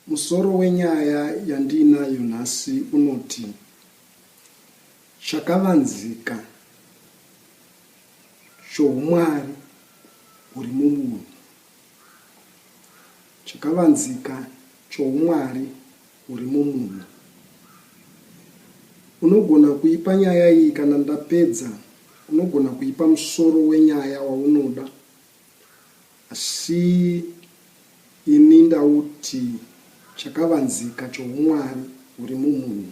Musoro wenyaya yandiinayo nhasi unoti, Chakavanzika Choumwari Huri Mubunhu. Chakavanzika Choumwari Huri Mubunhu. Unogona kuipa nyaya iyi kana ndapedza unogona kuipa musoro wenyaya waunoda. Asi ini ndauti chakavanzika choumwari huri mumunhu.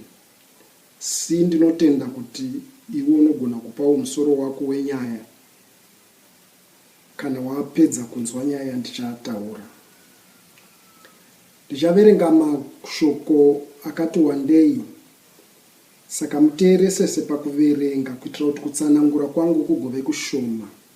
Asi ndinotenda kuti iwe unogona kupawo musoro wako wenyaya kana wapedza kunzwa nyaya yandichataura. Ndichaverenga mashoko akati wandei saka muteeresese pakuverenga kuitira kuti kutsanangura kwangu kugove kushoma.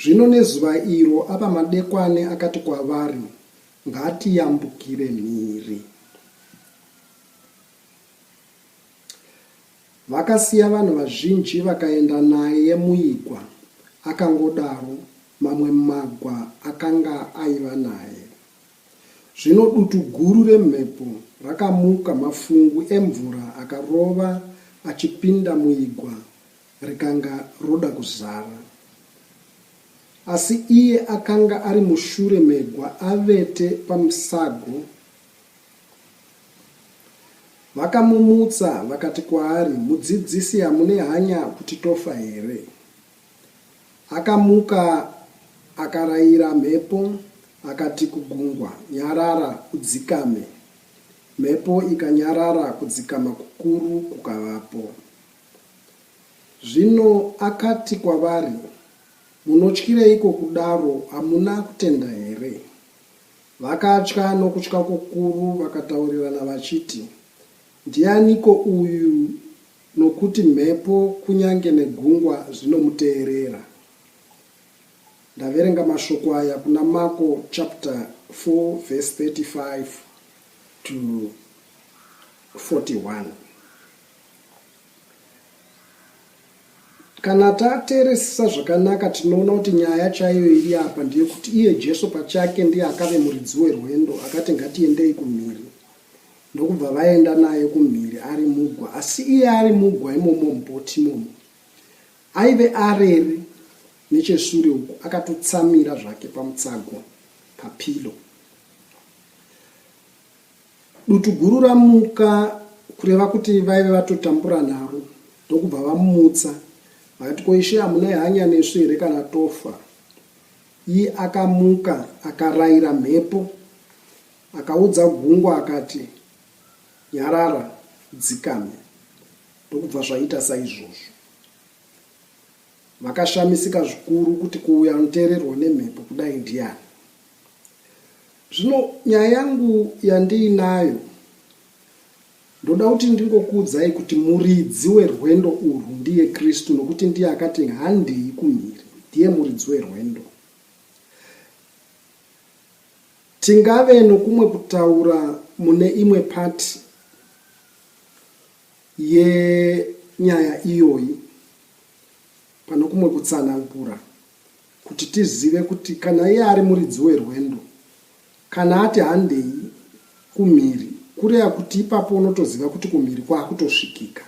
Zvino nezuva iro ava madekwane akati kwavari, Ngatiyambukire mhiri. Vakasiya vanhu vazhinji vakaenda naye muigwa, akangodaro, mamwe magwa akanga aiva naye. Zvino dutu guru remhepo rakamuka, mafungu emvura akarova achipinda muigwa Rikanga roda kuzara asi iye akanga ari mushure megwa avete pamusago. Vakamumutsa vakati kwaari, Mudzidzisi, hamune hanya kuti tofa here? Akamuka akaraira mhepo akati kugungwa, Nyarara udzikame. Mhepo ikanyarara kudzikama kukuru kukavapo. Zvino akati kwavari, Munotyireiko kudaro? Hamuna kutenda here? Vakatya nokutya kukuru, vakataurirana vachiti, Ndianiko uyu nokuti mhepo kunyange negungwa zvinomuteerera? Ndaverenga mashoko aya kuna Mako chapter 4 verse 35 to 41. Kana tateeresisa zvakanaka, tinoona kuti nyaya chaiyo iri apa ndeyekuti iye Jesu pachake ndiye akave muridzi werwendo, akati, Ngatiendei kumhiri. Ndokubva vaenda naye kumhiri ari mugwa. Asi iye ari mugwa imomo mubhoti imomo, aive arere necheshure uku, akatotsamira zvake pamutsago, papilo. Dutu guru ramuka kureva kuti vaive vatotambura nharo ndokubva vamutsa vakati ko ishe hamuna hanyanisi here kana tofa iye akamuka akaraira mhepo akaudza gungwa akati nyarara dzikame ndokubva zvaita saizvozvo vakashamisika zvikuru kuti kuuya anoteererwa nemhepo kudai ndiyani Zvino nyaya yangu yandiinayo ndoda kuti ndingokuudzai kuti muridzi werwendo urwu ndiye Kristu nokuti ndiye akati handei kumhiri ndiye muridzi werwendo. Tingave nokumwe kutaura mune imwe part yenyaya iyoyi panokumwe kutsanangura. Kuti tizive kuti kana iye ari muridzi werwendo, kana ati handei kumhiri kureva kuti ipapo unotoziva kuti kumhiri kwakutosvikika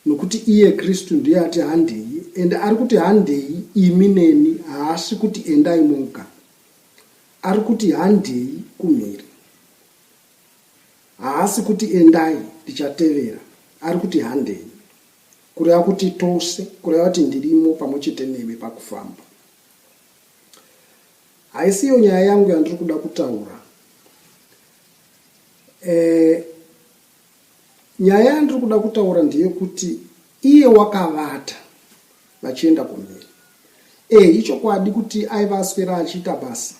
nokuti iye Kristu ndiye ati handei ende ari kuti handei imi neni haasi kuti endai moga ari kuti handei kumhiri haasi kuti endai ndichatevera ari kuti handei Kureva kuti tose, kureva kuti ndirimo pamwe chete newe pakufamba. Haisi iyo nyaya yangu yandiri kuda kutaura. Eh, nyaya yandiri kuda kutaura ndeyekuti iye wakavata vachienda kumhiri. Eh, ichokwadi kuti aiva aswera achiita basa.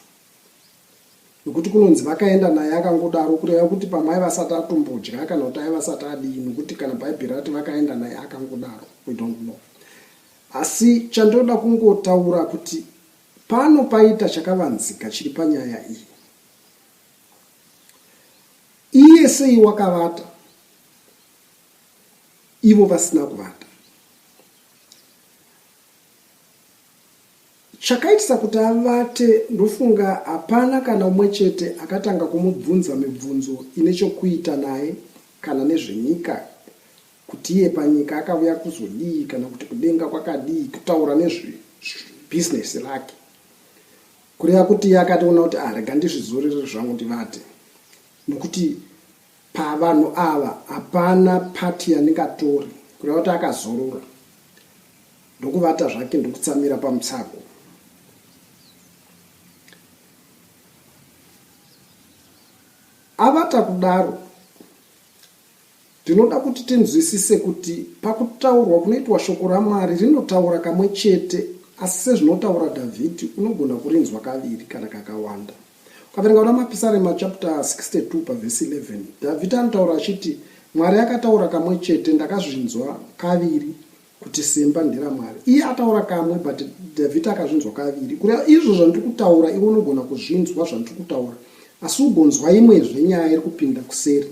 nokuti kunonzi vakaenda naye akangodaro kureva kuti pamwe aiva asati atombodya kana kuti aiva asati adii nokuti kana bhaibheri rati vakaenda naye akangodaro we don't know asi chandinoda kungotaura kuti pano paita chakavanzika chiri panyaya iyi iye sei wakavata ivo vasina kuvata Chakaitisa kuti avate ndofunga hapana kana umwe chete akatanga kumubvunza mibvunzo ine chokuita naye kana nezvenyika kuti iye panyika akavuya kuzodii kana kuti kudenga kwakadii kutaura nezve business rake kureva kuti iye akatoona kuti ah rega ndizvizorere zvangu ndivate nokuti Pavanhu ava hapana part yandingatori kureva kuti akazorora ndokuvata zvake ndokutsamira pamutsago. Avata kudaro ndinoda kuti tinzwisise kuti pakutaurwa kunoitwa shoko ramwari rinotaura kamwe chete asi sezvinotaura dhavhidhi unogona kurinzwa kaviri kana kakawanda Ukaverenga kuna Mapisarema chapter 62 pavhesi 11, Dhavhidhi anotaura achiti, Mwari akataura kamwe chete, ndakazvinzwa kaviri kuti simba nderaMwari. Iye ataura kamwe, but Dhavhidhi akazvinzwa kaviri. Kureva izvo zvandiri kutaura, iwe unogona kuzvinzwa zvandiri kutaura, asi ugonzwa imwezve nyaya iri kupinda kuseri,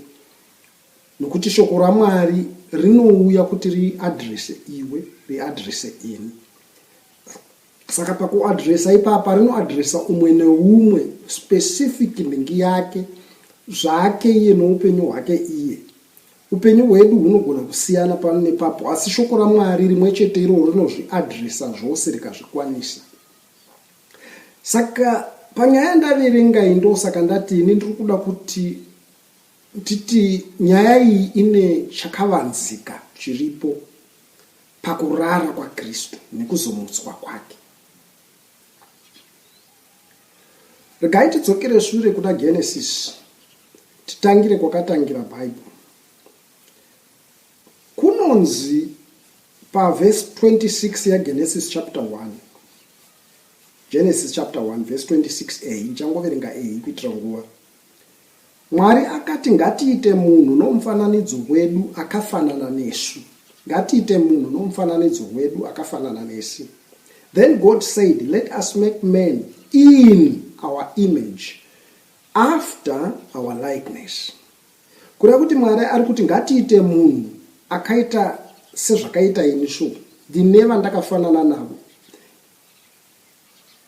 nokuti shoko raMwari rinouya kuti riadrese iwe, riadrese ini. saka pakuadresa ipapa rinoadresa umwe neumwe specific nhingi yake zvake iye noupenyu hwake iye upenyu hwedu hunogona kusiyana pano nepapo asi shoko ramwari rimwe chete iroo rinozviadresa zvose rikazvikwanisa saka panyaya yandaverenga iyi ndosaka ndati ini ndiri kuda kuti titi nyaya iyi ine chakavanzika chiripo pakurara kwaKristu nekuzomutswa kwake. Regai tidzokere shure kuna Genesis titangire kwakatangira Bible. Kunonzi paverse 26 yaGenesis chapter 1 Genesis chapter 1 verse 26a ichangoverenga a kuitira nguva Mwari akati ngatiite munhu nomufananidzo wedu akafanana nesu. Ngatiite munhu nomufananidzo wedu akafanana nesi. Then God said let us make man in our image after our likeness. Kureva kuti Mwari ari kuti ngatiite munhu akaita sezvakaita ini so ndine vandakafanana navo.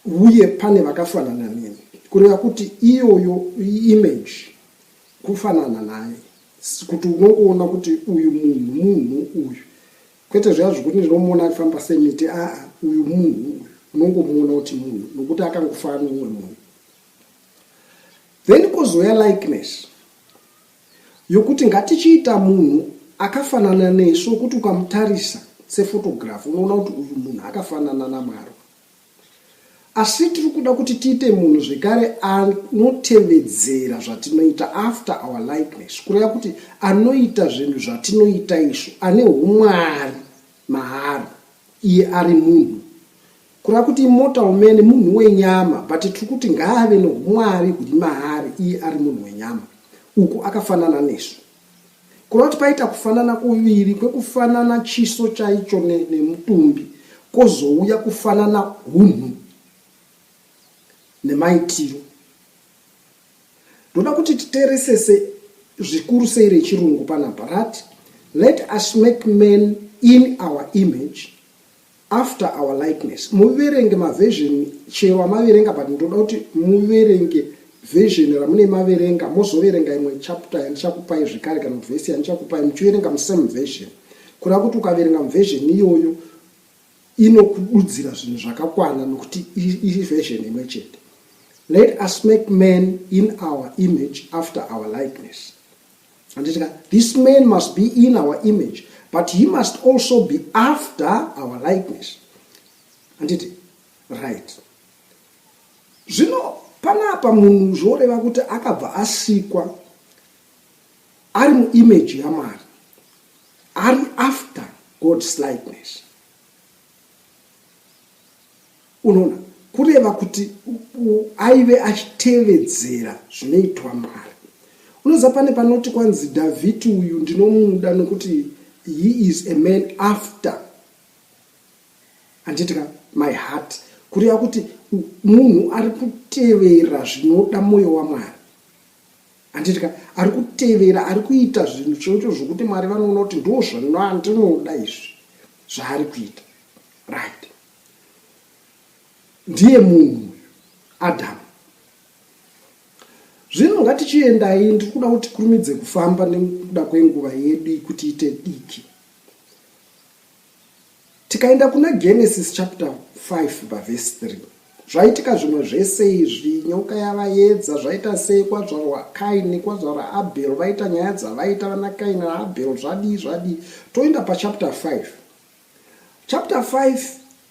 uye pane vakafanana neni kureva kuti iyoyo image kufanana naye kuti unongoona kuti uyu munhu munhu uyu kwete zviya zvekuti ndinomuona aifamba semiti aa uyu munhu uyu unongomuona kuti munhu nokuti akangofana umwe munhu then kozouya likeness Yokuti ngatichiita munhu akafanana nesu wokuti ukamutarisa sefotogirafi unoona kuti uyu munhu akafanana naMwari. Asi tiri kuda kuti tiite munhu zvekare anotevedzera zvatinoita, after our likeness, kureva kuti anoita zvinhu zvatinoita isu, ane umwari maari, iye ari munhu. Kureva kuti immortal umene munhu wenyama but tiri kuti ngaave noumwari huri maari iye ari munhu wenyama. Uku akafanana nesu. Kureva kuti paita kufanana kuviri kwekufanana chiso chaicho nemutumbi kozouya kufanana hunhu nemaitiro. Ndoda kuti titeresese zvikuru sei rechirungu panapa rati let us make man in our image After our likeness muverenge maversion chero amaverenga but ndoda kuti muverenge version ramune maverenga mozoverenga imwe chapter yandichakupai zvekare kana kuti vhesi yandichakupai muchiverenga musame version kureva kuti ukaverenga muversion iyoyo inokududzira zvinhu zvakakwana nokuti iri version imwe chete let us make man in our image after our likeness handiti ka this man must be in our image but he must also be after our likeness handiti right zvino panapa munhu zvoreva kuti akabva asikwa ari muimage yamwari ari after god's likeness Unoona, kureva kuti aive achitevedzera zvinoitwa Mwari. Unoziva pane panoti kwanzi Dhavhidhi uyu ndinomuda nokuti he is a man after handiti ka my heart kureva kuti munhu ari kutevera zvinoda mwoyo wamwari handiti ka ari kutevera ari kuita zvinhu chocho zvokuti mwari vanoona kuti ndo zvandinoda izvi zvaari kuita right ndiye munhu uyu adamu zvino ngatichiendai ndiri kuda kuti kurumidze kufamba nekuda kwenguva yedu kuti ite diki tikaenda kuna genesis chapter 5 pavhesi 3 zvaitika zvimwe zvese izvi nyoka yavayedza zvaita sei kwazvaro wakaini kwazvaro abel vaita nyaya dzavaita vana kaini naabel zvadii zvadii toenda pachapter 5 Chapter 5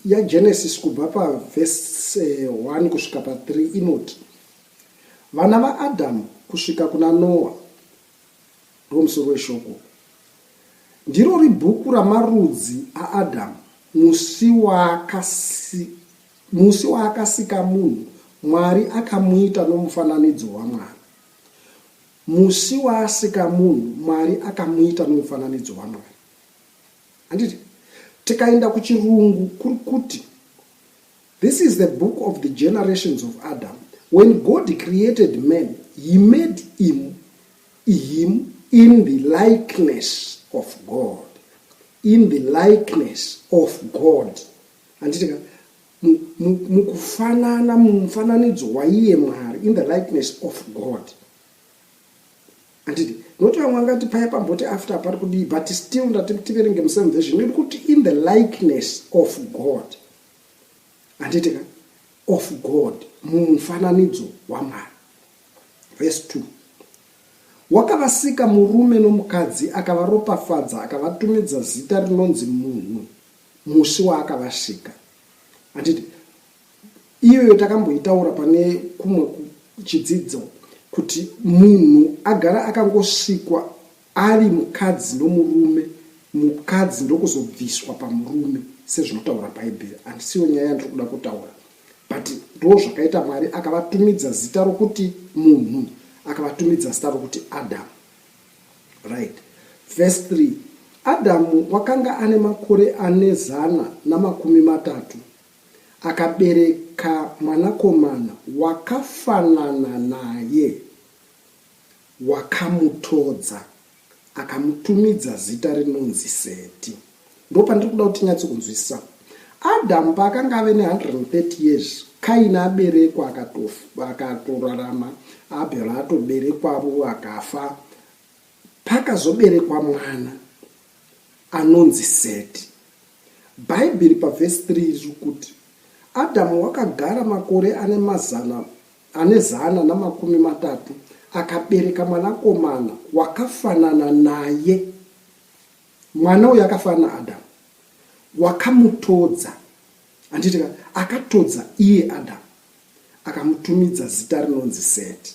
yaGenesis kubva pavhese 1 kusvika pa3 inoti vana vaAdhamu kusvika kuna Noa ndomusoro weshoko. Ndirori bhuku ramarudzi aAdhamu musi waakasi, musi waakasika munhu Mwari akamuita nomufananidzo waMwari. Musi waasika munhu Mwari akamuita nomufananidzo waMwari. handiti tikaenda kuchirungu kuri kuti this is the book of the generations of adam when god created man he made him, him in the likeness of god in the likeness of god handiti ka mukufanana mumufananidzo waiye mwari in the likeness of god Handidi. Noti vamwe vangati paya pamboti after pari kudii but still ndati tiverenge musame version yodi kuti in the likeness of God. Handiti ka? Of God. Mumufananidzo waMwari. Verse 2. Wakavasika murume nomukadzi akavaropafadza akavatumidza zita rinonzi munhu musi waakavasika. Handiti iyoyo takamboitaura pane kumwe chidzidzo kuti munhu agara akangosvikwa ari mukadzi nomurume mukadzi ndokuzobviswa pamurume sezvinotaura bhaibheri handisiyo nyaya yandiri kuda kutaura but ndo zvakaita mwari akavatumidza zita rokuti munhu akavatumidza zita rokuti adamu right verse 3 adamu wakanga ane makore ane zana namakumi matatu Akabereka mwanakomana wakafanana naye, wakamutodza, akamutumidza zita rinonzi Seti. Ndipo pandiri kuda kuti tinyatse kunzwisisa. Adhamu paakanga ave ne-130 years, Kaini aberekwa, akatofa, akatorarama, Abhera atoberekwavo, akafa. Pakazoberekwa mwana anonzi Seti. Bhaibheri pavhesi 3 riri kuti Adhamu wakagara makore ane mazana ane zana namakumi matatu akabereka mwanakomana wakafanana naye. Mwana uyu akafanana naAdhamu, wakamutodza, handiti ka, akatodza iye Adhamu, akamutumidza zita rinonzi Seti.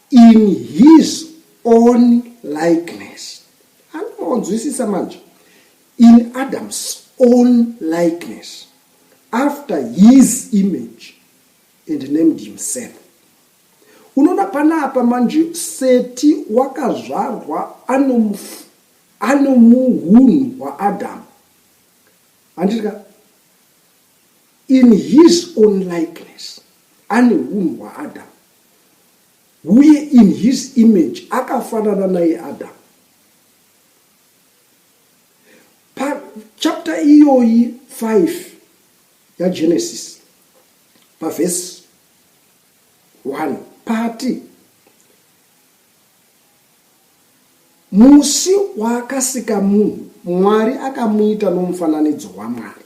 in his own likeness anoonzwisisa manje in adam's own likeness after his image and named himself unoona panapa manje seti wakazvarwa anomuhunhu hwaadamu handitika in his own likeness ane hunhu hwaadamu Uye in his image akafanana naye Adam. Pa chapter iyoyi 5 ya Genesis pa verse 1 pati musi waakasika munhu mwari akamuita nomufananidzo wamwari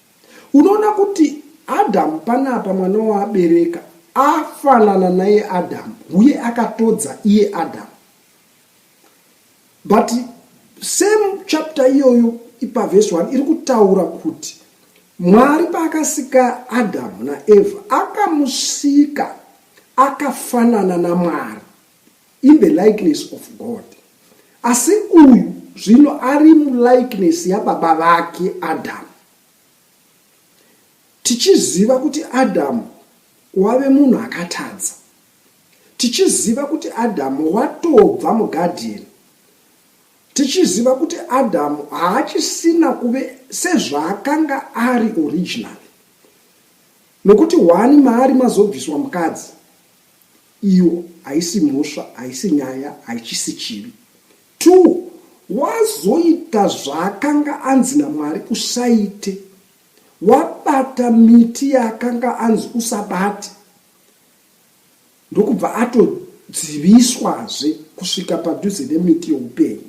Unoona kuti Adhamu panapa mwana waabereka afanana naiye Adhamu uye akatodza iye Adhamu. But same chapter iyoyo ipavhesi 1 iri kutaura kuti Mwari paakasika Adhamu naEvha akamusika akafanana naMwari. in the likeness of God asi uyu zvino ari mulikeness yababa vake Adamu tichiziva kuti Adamu wave munhu akatadza tichiziva kuti Adamu watobva mugadheni tichiziva kuti Adamu haachisina kuve sezvaakanga ari original nokuti wani maari mazobviswa mukadzi iyo haisi mhosva haisi nyaya haichisi chivi two wazoita zvaakanga anzi namwari usaite wabata miti yaakanga anzi usabate ndokubva atodziviswazve kusvika padhuze nemiti youpenyu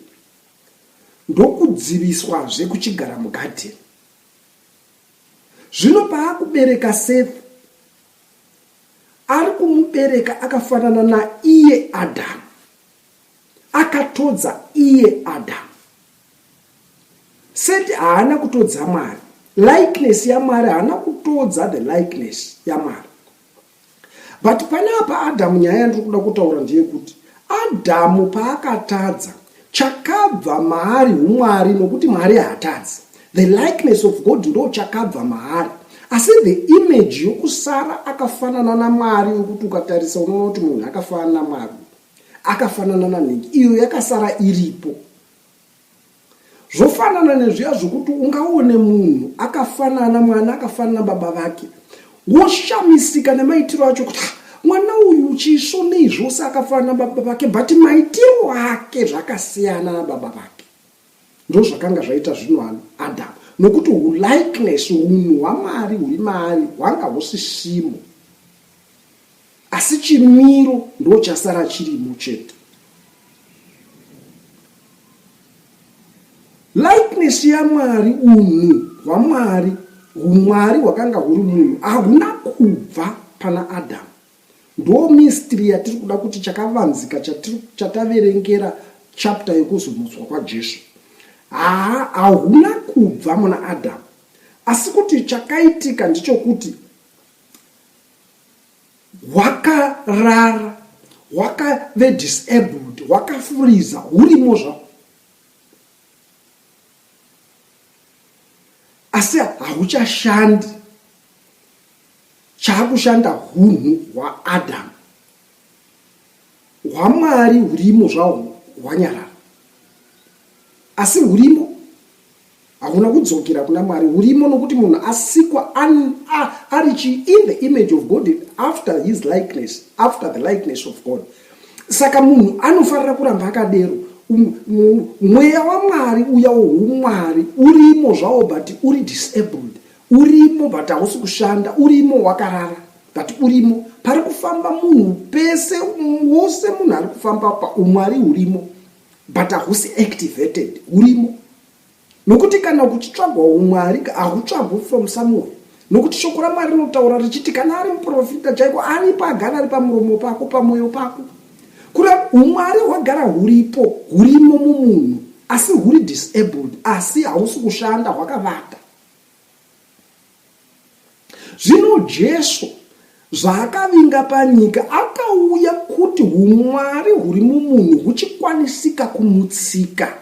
ndokudziviswazve kuchigara mugadheni zvino paakubereka sefi Ari kumubereka akafanana naiye Adhamu, akatodza iye Adhamu. Seti haana kutodza Mwari, likeness yaMwari haana kutodza the likeness yaMwari. But pane apa Adhamu, nyaya yandiri kuda kutaura ndeyekuti Adhamu paakatadza Chakabva maari humwari nokuti Mwari haatadzi. The likeness of God ndo chakabva maari. Asi the image yokusara akafanana naMwari yokuti ukatarisa unoona kuti munhu akafanana naMwari. Akafanana nanhingi iyo yakasara iripo. Zvofanana nezviya zvokuti ungaone munhu akafanana mwana akafanana baba vake. Woshamisika nemaitiro acho kuti ah, mwana uyu chisvo nei zvose akafanana baba vake but maitiro ake zvakasiyana nababa vake ndozvakanga zvaita zvino ano adamu nokuti ulikeness unhu hwamwari huri maari hwanga husisimo asi chimiro ndochasara chirimo chete likeness yamwari unhu hwamwari humwari hwakanga huri munhu hahuna kubva pana adamu ndo mistry yatiri kuda kuti chakavanzika chataverengera chapta yekuzomutswa kwajesu haa hahuna kubva muna adamu asi kuti chakaitika ndichokuti hwakarara hwakave disabled hwakafuriza hurimo zvao asi hauchashandi chaakushanda hunhu hwaadam hwamwari hurimo zvahwo hwanyarara asi hurimo hauna kudzokera kuna mwari urimo nokuti munhu asikwa ari chi in the image of god after his likeness after the likeness of god saka munhu anofanira kuramba akadero um, um, mweya wamwari uya woumwari urimo zvawo but uri disabled urimo but hausi kushanda urimo wakarara but urimo pari kufamba munhu pese wose munhu ari kufamba paumwari urimo but hahusi activated hurimo nokuti kana kuchitsvagwa umwari hahutsvagwi from somewhere nokuti shoko ramwari rinotaura richiti kana ari muprofita chaiko aripo agara ari pamuromo pako pamwoyo pako kuri umwari hwagara huripo hurimo mumunhu asi huri disabled asi hausi kushanda hwakavata Zvino Jesu, zvaakavinga panyika, akauya kuti humwari huri mumunhu huchikwanisika kumutsika,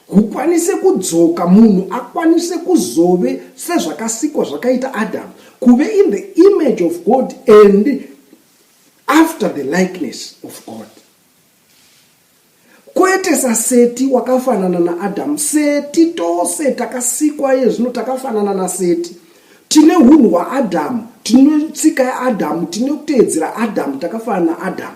hukwanise kudzoka, munhu akwanise kuzove sezvakasikwa zvakaita Adamu, kuve in the image of God and after the likeness of God. Kwete saSeti, wakafanana naAdam. Seti, tose takasikwa iye zvino takafanana naSeti. Tine hunhu hwaAdam, tine tsika yaAdam, tine kuteedzera Adam, takafanana naAdam.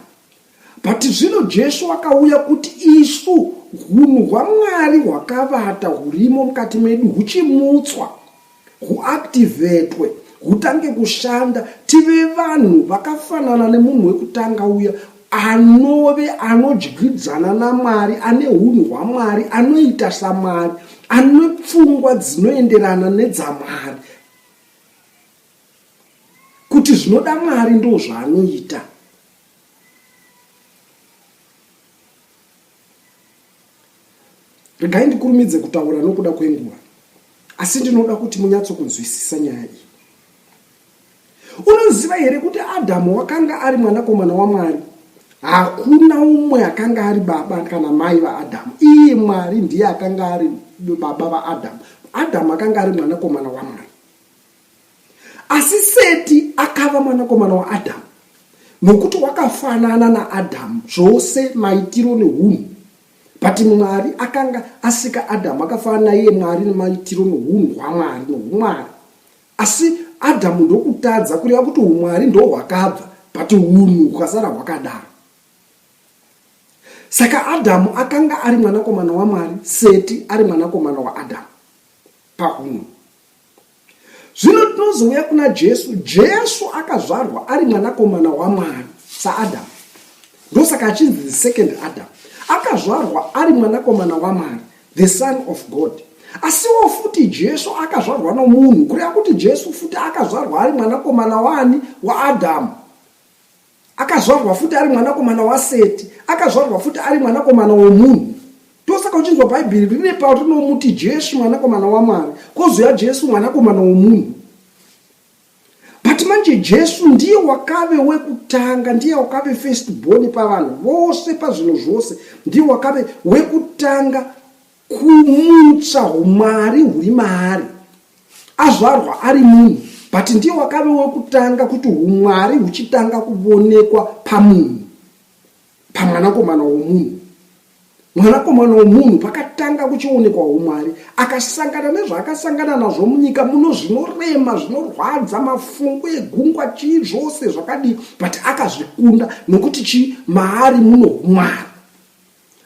But zvino Jesu wakauya kuti isu hunhu hwaMwari hwakavata hurimo mukati medu huchimutswa. huactivetwe hutange kushanda tive vanhu vakafanana nemunhu wekutanga uya anove anodyidzana namwari ane unhu hwamwari anoita samwari ane pfungwa dzinoenderana nedzamwari kuti zvinoda mwari ndozvaanoita Regai ndikurumidze kutaura nokuda kwenguva, asi ndinoda kuti munyatsokunzwisisa nyaya iyi. Unoziva here kuti Adhamu wakanga ari mwanakomana waMwari? Hakuna umwe akanga ari baba kana mai vaAdhamu. Iye Mwari ndiye akanga ari baba vaAdhamu. Adhamu akanga ari mwanakomana waMwari. Asi Seti akava mwanakomana waAdhamu, nokuti wakafanana naAdhamu zvose maitiro neunhu. But Mwari akanga asika Adhamu akafanana naiye Mwari nemaitiro nounhu hwaMwari noumwari. Asi Adhamu ndokutadza kureva kuti umwari ndo hwakabva but unhu hukasara hwakadaro. Saka Adhamu akanga ari mwanakomana waMwari, Seti ari mwanakomana waAdhamu pahunhu. Zvino tinozouya kuna Jesu. Jesu akazvarwa ari mwanakomana waMwari saAdhamu, ndosaka achinzi the second Adam. Akazvarwa ari mwanakomana waMwari, the son of God. Asiwo futi Jesu akazvarwa nomunhu, kureva kuti Jesu futi akazvarwa ari mwanakomana waani? WaAdhamu. Akazvarwa futi ari mwanakomana waSeti. Akazvarwa futi ari mwanakomana womunhu. Ndosaka uchinzwa Bhaibheri rine pauri rinomuti Jesu mwanakomana waMwari, kozouya Jesu mwanakomana womunhu. But manje Jesu ndiye wakave wekutanga, ndiye wakave first born pavanhu vose pazvinhu zvose, ndiye wakave wekutanga kumutsa humwari huri maari azvarwa ari munhu but ndiye wakave wekutanga kuti humwari huchitanga kuvonekwa pamunhu pamwanakomana womunhu mwanakomana womunhu pakatanga kuchionekwa humwari akasangana nezvaakasangana nazvo munyika muno zvinorema zvinorwadza mafungo egungwa chii zvose zvakadii but akazvikunda nokuti chii maari muno humwari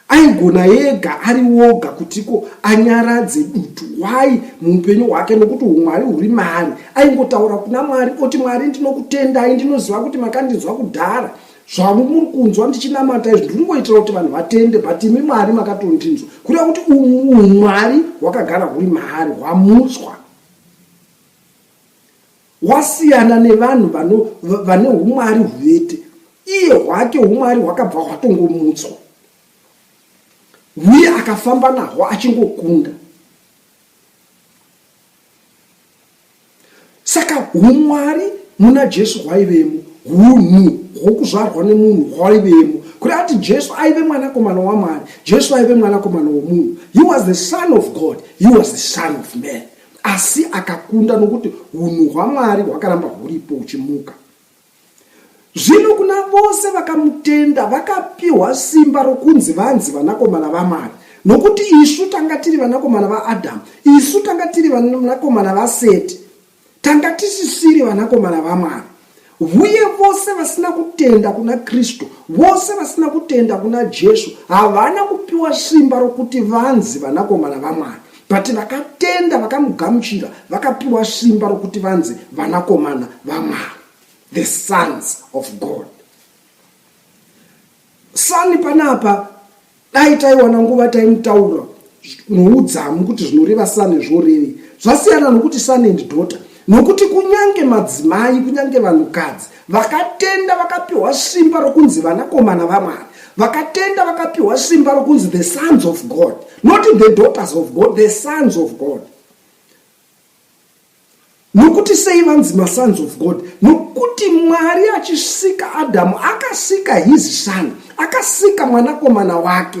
Aigona ega ari woga kutiko anyaradze dutu why muupenyu hwake nokuti humwari huri maari. Aingotaura kuna Mwari oti Mwari ndinokutendai ndinoziva kuti makandinzwa kudhara zvavo muri kunzwa ndichinamata izvi ndiri ngoitira kuti vanhu vatende but imi mwari makatondinzwa kureva kuti umwari hwakagara huri maari hwamutswa Wasiyana nevanhu vano, va- vane umwari huvete. Iye hwake umwari hwakabva hwatongomutswa. Hwiye akafamba nahwo achingokunda. Saka umwari muna Jesu hwaivemo, hunhu hwokuzvarwa nemunhu hwaivemo. Kuri ati Jesu aive mwanakomana waMwari, Jesu aive mwanakomana womunhu. He was the son of God, he was the son of man. asi akakunda nokuti unhu hwamwari hwakaramba huripo uchimuka zvino kuna vose vakamutenda vakapiwa simba rokunzi vanzi vanakomana vamwari nokuti isu tanga tiri vanakomana vaadhamu isu tanga tiri vanakomana vaseti tanga tisisiri vanakomana vamwari Uye vose vasina kutenda kuna Kristu, vose vasina kutenda kuna Jesu, havana kupiwa simba rokuti vanzi vanakomana vaMwari. But vakatenda, vakamugamuchira, vakapiwa simba rokuti vanzi vanakomana vaMwari, the sons of God. Sani panapa dai taiwana nguva taimutaura noudzamu kuti zvinoreva sane zvorevei zvasiyana nokuti sane and daughter nokuti kunyange madzimai kunyange vanhukadzi vakatenda vakapiwa simba rokunzi vanakomana vamwari vakatenda vakapiwa simba rokunzi the sons of god not the daughters of god the sons of god Nokuti sei vanzi masons of God? Nokuti Mwari achisika Adhamu akasika his son, akasika mwanakomana wake.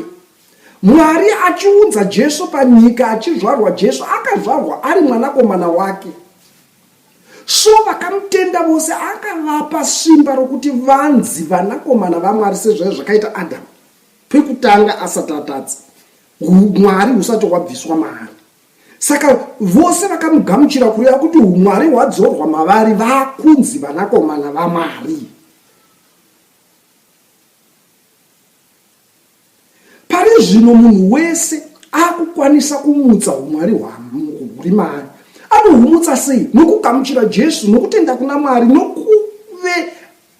Mwari achiunza Jesu panyika, achizvarwa Jesu, akazvarwa ari mwanakomana wake. So vakamutenda vose akavapa simba rokuti vanzi vanakomana vaMwari sezvaiva zvakaita Adhamu pekutanga asati atadza, Mwari husati hwabviswa maari. Saka vose vakamugamuchira kureva kuti umwari hwadzorwa mavari vakunzi vanakomana vamwari. Pari zvino munhu wese akukwanisa kumutsa umwari huri maari. Anohumutsa sei? Nokugamuchira Jesu, nokutenda kuna Mwari, nokuve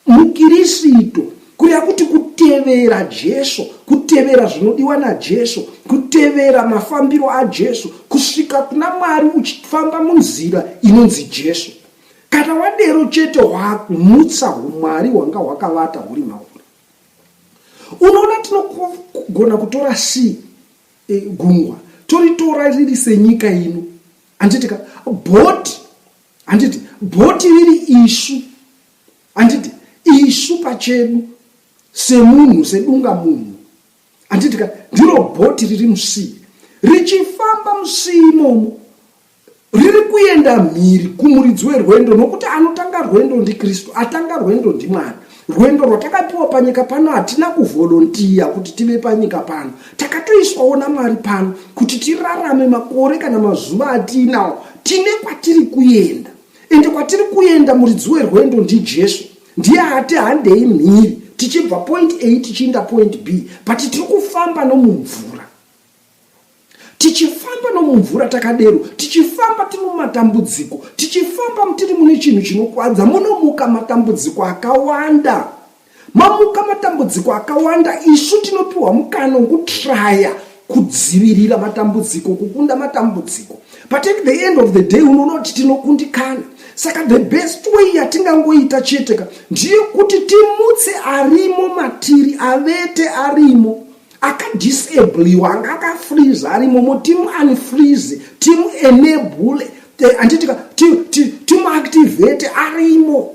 MuKirisito, kureva kuti kutevera Jesu, kutevera zvinodiwa naJesu, kutevera mafambiro aJesu, kusvika kuna Mwari uchifamba munzira inonzi Jesu. Kana wadero chete wakumutsa humwari hwanga hwakavata huri mauri. Unoona tinogona kutora si e, gungwa toritora riri senyika ino handiti ka bhoti handiti bhoti riri isu Handiti isu pachedu semunhu sedunga munhu handiti ka ndiro bhoti riri musii richifamba musii imomo riri kuenda mhiri kumuridzi werwendo nokuti anotanga rwendo ndikristu atanga rwendo ndimwari rwendo rwatakapiwa panyika pano hatina kuvholontiya kuti tive panyika pano takatoiswawo namwari pano kuti tirarame makore kana mazuva atiinawo tine kwatiri kuenda ende kwatiri kuenda muridzi werwendo ndijesu ndiye ati handei mhiri tichibva point a tichiinda point b but tiri kufamba nomumvura tichifamba nomumvura takadero tichifamba tiri mumatambudziko tichifamba tiri mune chinhu chinokwadza munomuka matambudziko akawanda Mamuka matambudziko akawanda, isu tinopiwa mukana wokutraya kudzivirira matambudziko, kukunda matambudziko. But at the end of the day unoona kuti tinokundikana. Saka the best way yatingangoita chete ka ndeyekuti timutse arimo matiri, avete arimo akadisabliwa anga akafreeze arimo mo timu unfreeze timu enable eh, anditika timu activate arimo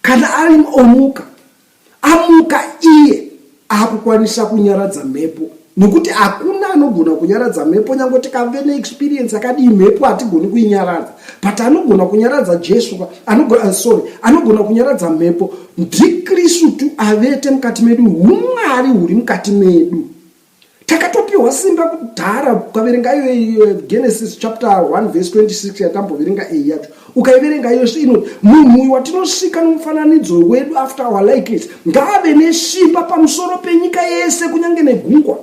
Kana Alim omuka, amuka iye akukwanisa kunyaradza mhepo nekuti hakuna anogona kunyaradza mhepo nyange tikave neexperience akadii mhepo hatigoni kuinyaradza but anogona kunyaradza jesu anogona, uh, sorry anogona kunyaradza mhepo ndikristu avete mukati medu umwari huri mukati medu takatopiwa simba kudhara ukaverenga iyo iyo genesis chapter 1 verse 26 yatamboverenga iyi yacho ukaiverenga iyo ino munhu uyu watinosvika nomufananidzo wedu after our likeness ngaave nesimba pamusoro penyika yese kunyange negungwa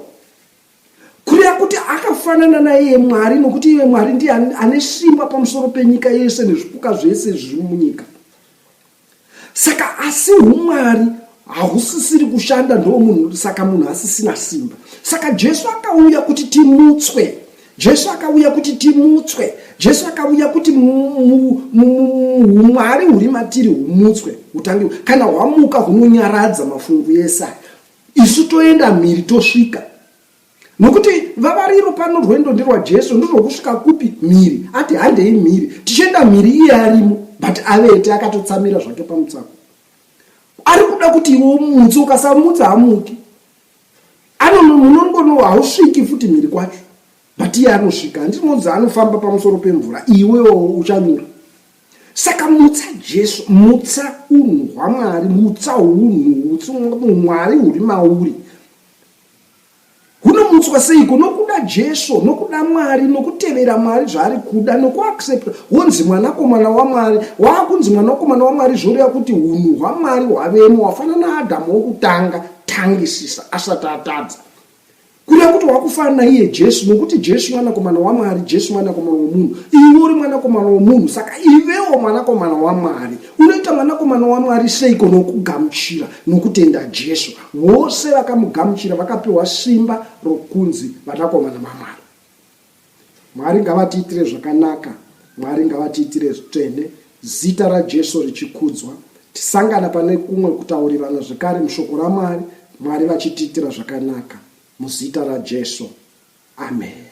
kureva kuti akafanana naiye mwari nokuti iye mwari ndiye ane simba pamusoro penyika yese nezvipuka zvese zviri munyika Saka asi umwari hausisiri kushanda ndo munhu saka munhu asisina simba. Saka Jesu akauya kuti timutswe. Jesu akauya kuti timutswe. Jesu akauya kuti umwari huri matiri humutswe utange kana hwamuka hunonyaradza mafungu yesa. Isu toenda mhiri tosvika. nokuti vavariro pano rwendo nderwajesu ndorwokusvika kupi mhiri ati handei mhiri tichienda mhiri iye arimo but avete akatotsamira zvake pamutsako ari kuda kuti iwe umutse ukasamutsa hamuki anomunongono hausviki futi mhiri kwacho but iye anosvika handinoudza anofamba pamusoro pemvura iwewo uchanyura saka mutsa jesu mutsa unhu hwamwari mutsa unhu utsi mwari huri mauri hunomutswa seiko nokuda jesu nokuda mwari nokutevera mwari zvaari kuda nokuaccepta wonzi mwanakomana wamwari waakunzi mwanakomana wamwari zvoreva kuti unhu hwamwari hwavemo wafanana naadhamu wokutanga tangisisa asati atadza kureva kuti wakufanana naiye jesu nokuti jesu mwanakomana wamwari jesu mwanakomana womunhu iwe uri mwanakomana womunhu saka ivewo mwanakomana wamwari unoita mwanakomana wamwari seiko nokugamuchira nokutenda jesu Vose vakamugamuchira vakapiwa simba rokunzi vanakomana vaMwari. Mwari ngavatiitire zvakanaka, Mwari ngavatiitire zvitsvene, zita raJesu richikudzwa. Tisangana pane kumwe kutaurirana zvekare mushoko raMwari, Mwari vachitiitira zvakanaka. Muzita raJesu. Amen.